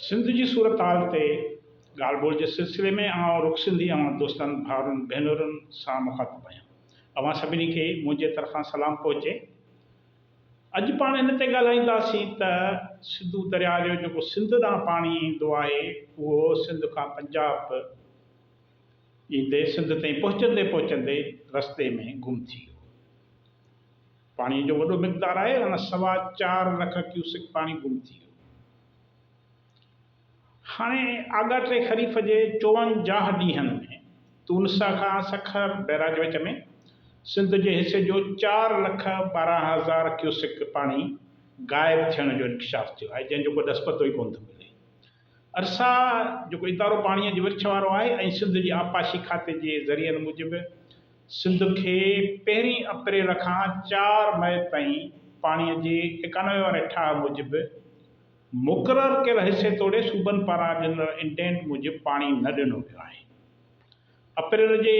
سنڌ جي صورتحال تي ڳالهه ٻولهه جي سلسلي ۾ آئون رخ سنڌي اوهان دوستن، ڀائرن، ڀينرن سان مخاطب آهيان. اوهان سڀني کي منهنجي طرفان سلام پهچي. اڄ پاڻ ان تي ڳالهائينداسين ته سنڌو درياء جو جيڪو سنڌ ڏانهن پاڻي ايندو آهي اهو سنڌ کان پنجاب، ۽ دير سنڌ تائين پهچندي پهچندي رستي ۾ گم ٿي ويو. پاڻيء جو وڏو مقدار آهي ان سوا چار لک ڪيوسڪ پاڻي گم ٿي ويو. هاڻي آڳاٽي خريف جي چوونجاهه ڏينهن ۾ تونسه کان سکر بئراج وچ ۾ سنڌ جي حصي جو چار لک ٻارهن هزار ڪيوسڪ پاڻي غائب ٿيڻ جو انڪشاف ٿيو آهي جنهن جو ڪو ڏس پتو ئي ڪونه ٿو ملي. ارسا جيڪو ادارو پاڻيء جي ورڇ وارو آهي ۽ سنڌ جي آبپاشي کاتي جي ذريعن موجب سنڌ کي پهرين اپريل کان چار مئي تائين پاڻيء جي ايڪانوي واري ٺاهه موجب مقرر ڪيل حصي توڙي صوبن پاران ڏنل انڊينٽ موجب پاڻي نه ڏنو ويو آهي. اپريل جي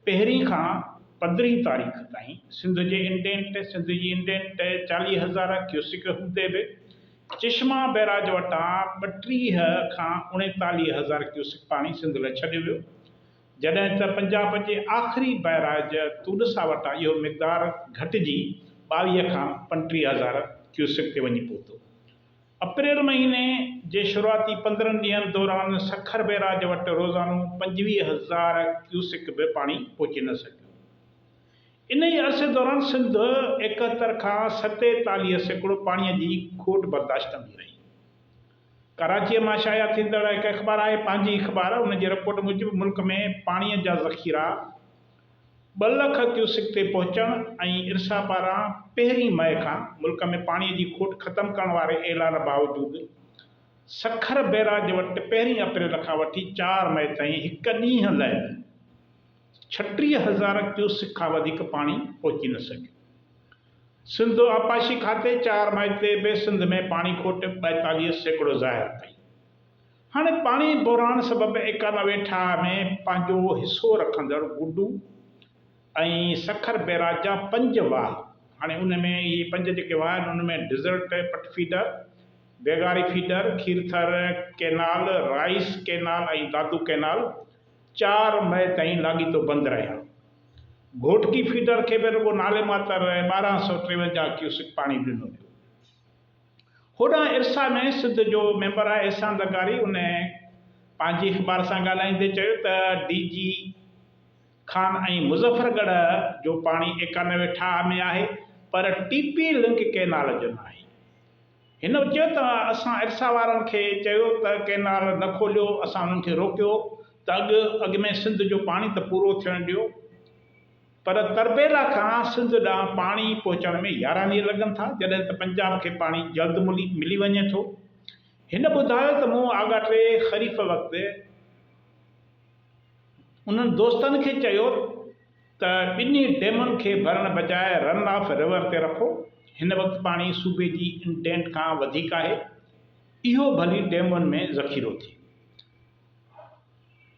پهرين کان پندرهين تاريخ تائين سنڌ جي انٽينٽ، سنڌ جي انٽينٽ، چاليهه هزار ڪيوسڪ هوندي به چشما بئراج وٽان ٻٽيهه کان اڻيتاليهه هزار ڪيوسڪ پاڻي سنڌ ۾ ڇڏيو ويو، جڏهن ته پنجاب جي آخري بئراج تونسا وٽان اهو مقدار گهٽجي ٻاويهه کان پنٽيهه هزار ڪيوسڪ تي وڃي پهتو. اپريل مهيني جي شروعاتي پندرهن ڏينهن دوران سکر بئراج وٽ روزانو پنجويهه هزار ڪيوسڪ به پاڻي پهچي نه سگهيو. انهيء عرصي دوران سنڌ ايڪهتر کان ستيتاليهه سيڪڙو پاڻيء جي کوٽ برداشت ڪندي رهي. ڪراچيء مان شايع ٿيندڙ هڪ اخبار آهي پنهنجي اخبار ان جي رپورٽ موجب ملڪ ۾ پاڻيء جا ذخيرا، ٻه لک ڪيوسڪ تي پهچڻ ۽ ارسا پاران پهرين مئي کان ملڪ ۾ پاڻي جي کوٽ ختم ڪرڻ واري اعلان باوجود سکر بئراج وٽ پهرين اپريل کان وٺي چار مئي تائين هڪ ڏينهن لئه ڇٽيهه هزار ڪيوسڪ کان وڌيڪ پاڻي پهچي نه سگهيو. سنڌ آبپاشي کاتي چار مئي تي به سنڌ ۾ پاڻي کوٽ ٻائيتاليهه سيڪڙو ظاهر ڪئي. هاڻي پاڻي بحران سبب ايڪانوي ٺاهه ۾ پنهنجو حصو رکندڙ گڊو ۽ سکر بيراج جا پنج واهه هاڻي ان ۾ اهي پنج جيڪي واهه آهن ان ۾ desert Pat feeder, Begari feeder, Kirthar canal, rice canal ۽ Dadu canal چار مئي تائين لاڳيتو بند رهيا. گهوٽڪي فيڊر کي به رڳو نالي ماتر ٻارهن سؤ ٽيونجاهه ڪيوسڪ پاڻي ڏنو ويو. هوڏانهن ارسا ۾ سڌ جو ميمبر احسان زرداري ان پنهنجي اخبار سان ڳالهائيندي چيو ته ڊي جي خان ۽ مظفر ڳڙهه جو پاڻي ايڪانوي ٺاهه ۾ آهي پر ٽي پي لنڪ ڪئنال جو ناهي. هن چيو ته اسان ارسا وارن کي چيو ته ڪئنال نه کوليو اسان انهن کي روڪيو ته اڳ اڳ ۾ سنڌ جو پاڻي ته پورو ٿيڻ ڏيو. پر تربيلا کان سنڌ ڏانهن پاڻي پهچڻ ۾ يارهن ڏينهن لڳن ٿا، جڏهن ته پنجاب کي پاڻي جلد ملي وڃي ٿو. هن ٻڌايو ته مون آڳاٽي خريف وقت انهن دوستن کي چيو ته ٻنهي ڊيمن کي ڀرڻ بجاء رن آف رور تي رکو، هن وقت پاڻي صوبي جي انٽينٽ کان وڌيڪ آهي، اهو ڀلي ڊيمن ۾ ذخيرو ٿئي.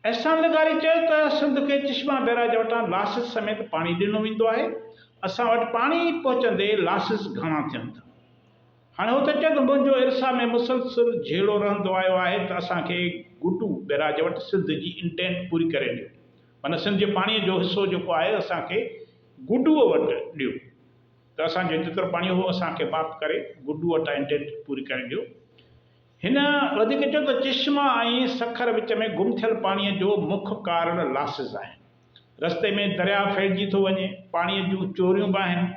احسان لغاري چيو ته سنڌ کي چشما بئراج وٽان لاسز سميت پاڻي ڏنو ويندو آهي، اسان وٽ پاڻي پهچندي لاسز گهڻا ٿين ٿا. هاڻي هو ٿو چئي ته منهنجو ارسا ۾ مسلسل جهيڙو رهندو آيو آهي ته اسان کي گڊو بئراج وٽ سنڌ جي انٽينٽ پوري ڪري ڏيو، معنيٰ سنڌ جي پاڻي جو حصو جيڪو آهي اسان کي گڊو وٽ ڏيو ته اسان جو جيترو پاڻي هو اسان کي معاف ڪري گڊو وٽان انٽينٽ پوري ڪري ڏيو. هن وڌيڪ چيو ته چشما ۽ سکر وچ ۾ گم ٿيل پاڻي جو مک ڪارڻ لاسز آهن، رستي ۾ درياء ڦهلجي ٿو وڃي، پاڻي جون چوريون به آهن.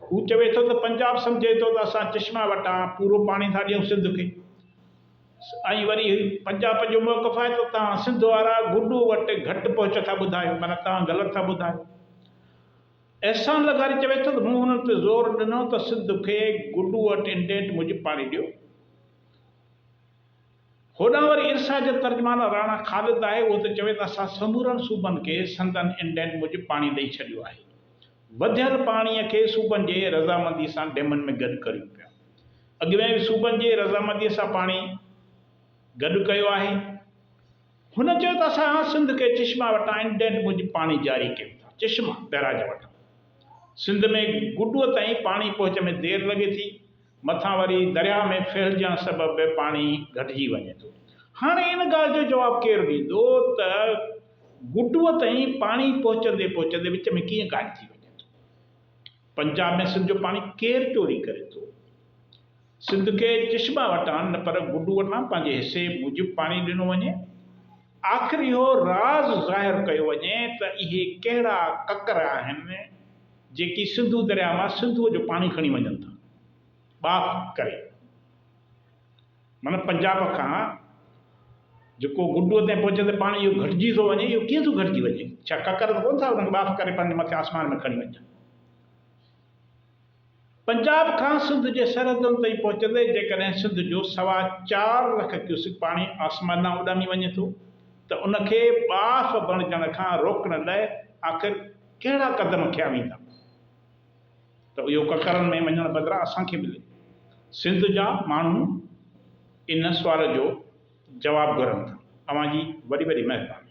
هو چوي ٿو ته پنجاب سمجهي ٿو ته اسان چشما وٽان پورو پاڻي ٿا ڏيون سنڌ کي ۽ وري پنجاب جو موقف آهي ته توهان سنڌ وارا گڊو وٽ گهٽ پهچ ٿا ٻڌايو معنيٰ توهان غلط ٿا ٻڌايو. احسان لغاري چوي ٿو ته مون انهن تي زور ڏنو ته سنڌ کي گڊو اٽ انڊينٽ موجب پاڻي ڏيو. هوڏانهن وري ارسا جو ترجمان راڻا خالد آهي اهو ته چوي ته اسان سمورن صوبن کي سندن انڊينٽ موجب پاڻي ڏئي ڇڏيو آهي. وڌيل پاڻي کي صوبن جي رضامندي سان ڊيمن ۾ گڏ ڪريون پيا. اڳ ۾ به صوبن جي رضامندي سان پاڻي گڏ ڪيو آهي. هن چيو ته اسان هاڻ سنڌ کي چشما وٽان انڊينٽ موجب پاڻي جاري ڪيون ٿا، چشما، بئراج، وٺون. سنڌ ۾ گڊوء تائين پاڻي پهچ ۾ دير لڳي ٿي، مٿان وري درياهه ۾ ڦهلجڻ سبب به پاڻي گهٽجي وڃي ٿو. هاڻي ان ڳالهه جو جواب ڪير ڏيندو ته گڊوء تائين پاڻي پهچندي پهچندي وچ ۾ ڪيئن غائب ٿي وڃي ٿو؟ پنجاب ۾ سنڌ جو پاڻي ڪير چوري ڪري ٿو؟ سنڌ کي چشما وٽان نه پر گڊو وٽان پنهنجي حصي موجب پاڻي ڏنو وڃي. آخر اهو راز ظاهر ڪيو وڃي ته اهي ڪهڙا ڪڪر آهن جيڪي سنڌو درياء مان سنڌوء جو پاڻي کڻي وڃن ٿا ٻاڦ ڪري معنيٰ پنجاب کان جيڪو گڊوء تائين پهچي ته پاڻي اهو گهٽجي ٿو وڃي اهو ڪيئن ٿو گهٽجي وڃي ڇا ڪڪر ته ڪونه ٿا انهن کي ٻاڦ ڪري پنهنجي مٿي آسمان ۾ کڻي وڃن. پنجاب کان سنڌ جي سرحدن تائين پهچندي جيڪڏهن سنڌ جو سوا چار لک ڪيوسڪ پاڻي آسمان ڏانهن اڏامي وڃي ٿو ته ان کي ٻاڦ بڻجڻ کان روڪڻ لاء آخر ڪهڙا قدم کنيا ويندا ته اهو ڪڪرن ۾ وڃڻ بدران اسان کي ملي؟ سنڌ جا ماڻهو ان سوال جو جواب گهرن ٿا. اوهان جي وڏي وڏي مهرباني.